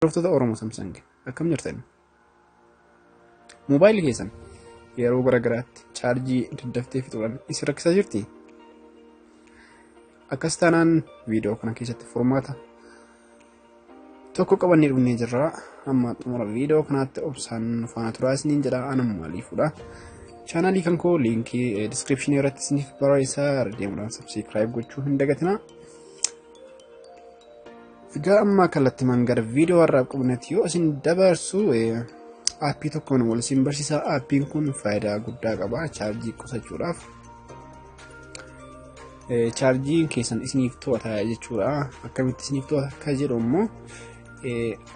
Hordoftoota Oromo Samsung akkam jirtan? Moobaayilii keessan yeroo garaagaraatti chaarjii daddaftee fixuudhaan isin rakkisaa jirti? Akkas taanaan viidiyoo kana keessatti furmaata tokko qabannee dhufnee jirra. Amma xumura viidiyoo kanaatti obsaan faana turaa isiniin jedha anam maaliifudha. Chaanaalii kan koo liinkii diskiripshinii irratti isiniif barreessaa deemuudhaan sabsiikiraayib gochuu hin dagatinaa. Egaa ammaa kallattimaan gara viidiyoo har'aaf qabnetti yoo isin dabarsu aappii tokkoon wal isin barsiisaa aappiin kun faayidaa guddaa qaba chaarjii qusachuudhaaf chaarjiin keessan isiniif to'ata jechuudha akkamitti isiniif to'ata akka jedhu immoo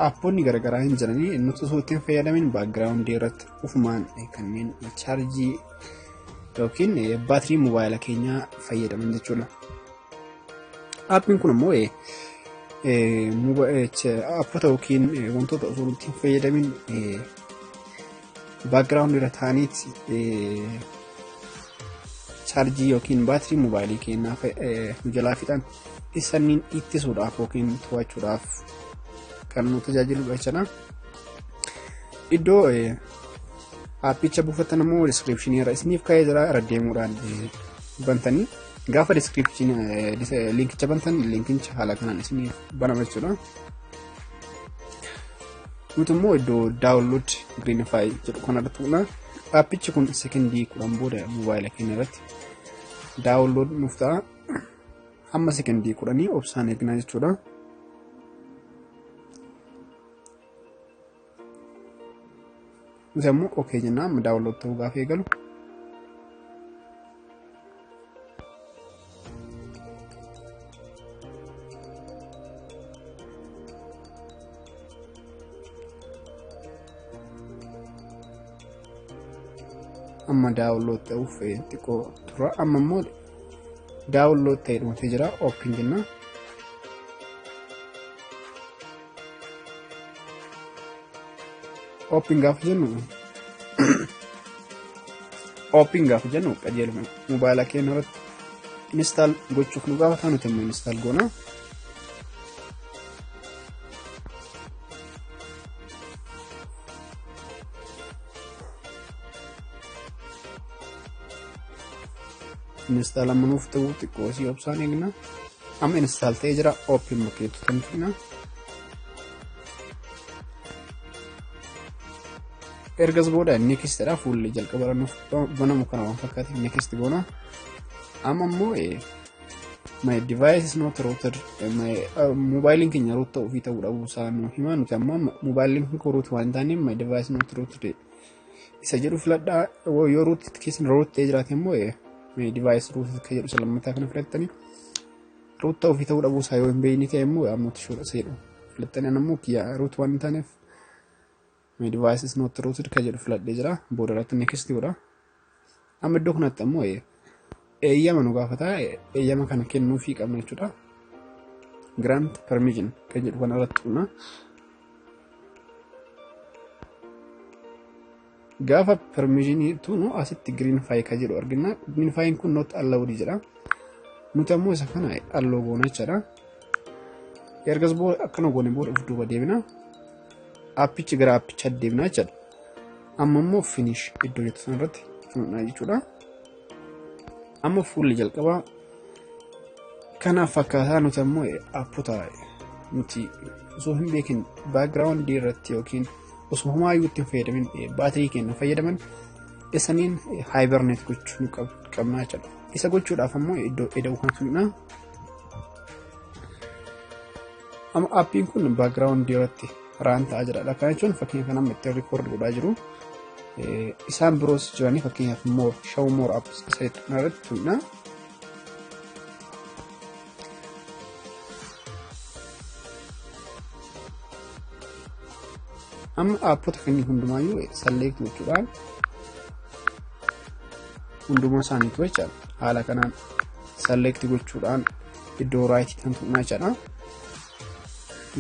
aapponni garaagaraa hin jiranii nuti osoo ittiin fayyadamin baakgiraawundii irratti ufumaan kanneen chaarjii yookiin baatirii moobaayila keenyaa fayyadaman jechuudha. Aappiin kun ammoo appota yookiin wantoota osoo nuti hin fayyadamin baakgiraawundi irra taa'aniit chaarjii yookiin baatirii mobaayilii keenyaa nu jalaa fixan isaniin ittisuudhaaf yookiin to'achuudhaaf kan nu tajaajiludha jechuudha. Iddoo aappicha buufatan immoo diskiripshinii irra isiniif kaa'ee jira irra deemuudhaan bantanii Gaafa description linkicha bantan linkicha haala kanaan isiniif banama jechuudha. Nuti immoo iddoo download greenify jedhu kanarratti tuqna. Aappichi kun sekondii kudhan booda mobaayila keenya irratti download nuuf ta'a. Hamma sekondii kudhanii obsaan eegnaa jechuudha. Nuti ammoo okee jennaa amma daawunlood ta'uu gaafa eegalu. amma daawunlood ta'uuf xiqqoo tura amma immoo daawunlood ta'e dhumtee jira oopin jennaa. Ooppiin gaafa jennu ooppiin gaafa jennu qajeeluma mobaayila keenya irratti instaal gochuuf nu gaafata nuti immoo instaal goona. Instaal amma nuuf ta'u xiqqoo si obsaan eegna. Amma install ta'ee jira open bakkeetti kan fina. Ergas booda next dha fuulli jalqaba irra nuuf banamu kana waan fakkaate next goona. Amma immoo my device is not routed my mobaayiliin keenya root ta'uu fi ta'uu dhabuu isaa nu hima nuti amma mobaayiliin kun root waan hin taaneef my device is not routed isa jedhu filadhaa yoo ruut keessan ruut ta'ee jiraate immoo divaayis ruut akka jedhu isa lammataa kana filattanii ruut ta'uu fi ta'uu dhabuu isaa yoo hin beekne ta'e immoo ammoo tishuudha isa jedhu filattanii ammoo kiyya ruut waan hin taaneef divaayis is noot ruut akka jedhu filadhee jira booda irratti neekistii godha. Amma iddoo kanatti ammoo eeyyama nu gaafata. Eeyyama kana kennuufii qabna jechuudha. Grant permission kan jedhu kana irratti dhuna. Gaafa permishinii tunu asitti green file kan jedhu argina. Green file kun not allowed jedha. Nuti ammoo isa kana alloo goona jechuudha. Ergas booda akkana goone booda of duuba deebina. Appichi gara appicha deebina jechuudha. Amma immoo finish iddoo jettu sana irratti fudhannaa jechuudha. Amma fuulli jalqabaa kanaaf fakkaataa nuti ammoo appota nuti osoo hin beekin baakgiraawundii irratti yookiin osoo homaayyuu itti hin fayyadamin baatirii keenya fayyadaman isaniin haayibarneet gochuu nu qabna jechuudha. Isa gochuudhaaf ammoo iddoo eda'uu kan fidna. Amma appiin kun baakgiraawundii irratti raan ta'a jira dha. Kana jechuun fakkeenya kana amma ittiin rikoordi godhaa jiru. Isaan biroos jiranii fakkeenyaaf moor shaw moor apps isa jettu kana irratti tuqna. Amma aappota keenya hundumaayyuu salleekti gochuudhaan hundumaa isaaniitu jechaadha. Haala kanaan salleekti gochuudhaan iddoo raayitii kan tuqnaa jechaadha.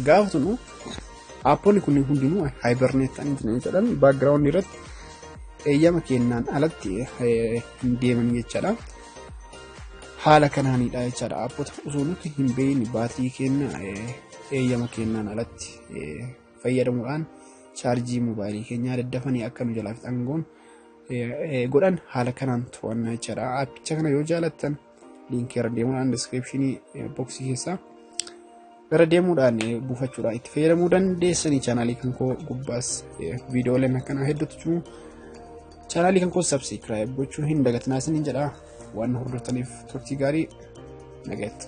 Gaafa sunu aappoonni kunniin hundinuu haayibarneet ta'anii jiran jechuudhaan baakgiraawundi irratti eeyyama kennaan alatti hin deeman jechaadha. Haala kanaanidha jechaadha aappota osoo nuti hin beekne baatii kenna eeyyama kennaan alatti fayyadamuudhaan chaarjii moobaayilii keenyaa daddafanii akka nu jalaa fixan goon godhan haala kanaan to'annaa jechaadha. Aappicha kana yoo jaalattan liinkii irra deemuudhaan diskiripshinii boksii keessaa irra deemuudhaan buufachuudhaan itti fayyadamuu dandeessanii chaanaalii kan koo gubbaas viidiyooleen akkanaa hedduutu jiru. Chaanaalii kan koo sabsiikiraayib gochuu hin dagatinaa isiniin jedha waan hordoftaniif turtii gaarii nagatti.